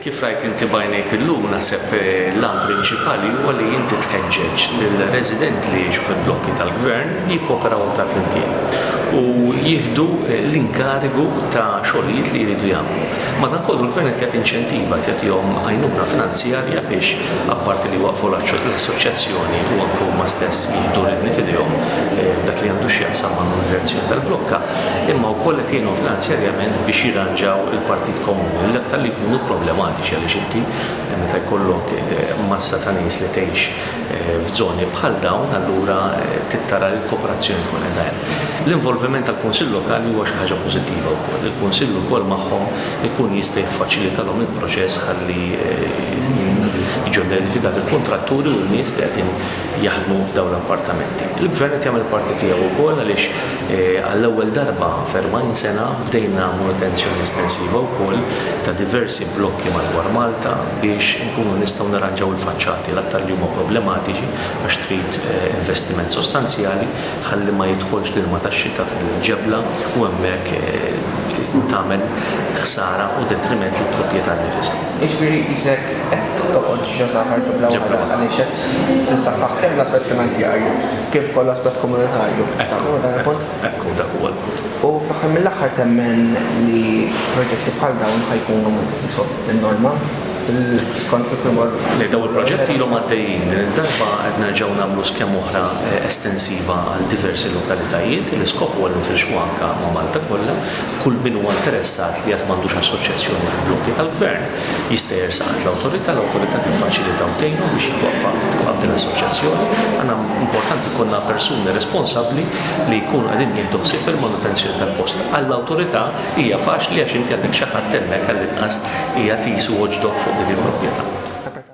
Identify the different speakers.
Speaker 1: Kif rajt inti b'għajnejk illum, naħseb l-għan prinċipali huwa li inti tħeġġeġ lill-residenti li jgħixu fil-blokki tal-Gvern jikkooperaw aktar flimkien u jieħdu l-inkarigu ta' xogħlijiet li jridu jagħmlu. Madankollu l-Gvern qed jagħti inċentiva, qed jagħtihom għajnuna finanzjarja biex apparti li jwaqqfu l-assoċjazzjoni u anke huma stess jieħdu r-redni f'idejhom f'dak li għandu x'jaqsam mal-monitorazzjoni tal-blokka, imma wkoll qed jgħinhom finanzjarjament biex jirranġaw il-partijiet komuni, l-aktar li jkunu problematiċi għaliex inti meta jkollok massa ta' nies li tgħix f'żoni bħal dawn allura trid tara li l-kooperazzjoni tkun qiegħda hemm. L-involviment tal-Kunsill Lokali huwa xi ħaġa pożittiva wkoll. Il-Kunsill ukoll magħhom ikun jista' jiffaċilitalhom il-proċess ħalli jiġu identifikati l-kuntratturi u n-nies li qegħdin jaħdmu f'dawn l-appartamenti. Il-Gvern qed jagħmel il-parti tiegħu wkoll għaliex Għall-ewwel darba f'erbgħin sena bdejna manutenzjoni estensiva wkoll ta' diversi blokki madwar Malta biex inkunu nistgħu nirranġaw il-faċċati, l-aktar li huma problematiċi għax trid investiment sostanzjali ħalli ma jidħolx l-ilma tax-xita fil-ġebla u hemmhekk tagħmel ħsara u detriment lill-propjetà nnifisha. Jiġifieri qisek
Speaker 2: qed toqgħod ġo saħħa l-ġebla waħda għaliex qed tissaħħaħ kemm l-aspett finanzjarju, kif ukoll l-aspett komunitarju. Taqblu ma' dan il-punt? Ekku, dak huwa l-punt.
Speaker 1: U fl-aħħar mill-aħħar
Speaker 2: temmen li proġetti bħal dawn ħa jkunu n-norma skont kif imur. Le, dawn il-proġetti ilhom
Speaker 1: għaddejjin. Din id-darba qed nerġgħu nagħmlu skema oħra estensiva għal diversi lokalitajiet. L-iskop huwa li nfirxuha anke ma' Malta kollha. Kull min huwa interessat li għad m'għandux assoċjazzjoni fil-blokki tal-Gvern, Jista' jersaq għand l-Awtorità, l-Awtorità tiffaċilita u tgħinu biex jitwaqqfa u titwaqqaf din l-assoċjazzjoni. Għandna, importanti jkollna persuni responsabbli li jkunu qegħdin jieħdu ħsieb il-manutenzjoni tal-post. Għall-Awtorità hija faċli għax inti għandek xi ħadd hemmhekk għall-inqas jagħti jisuh u ġdokk fuq dik il-proprjetà.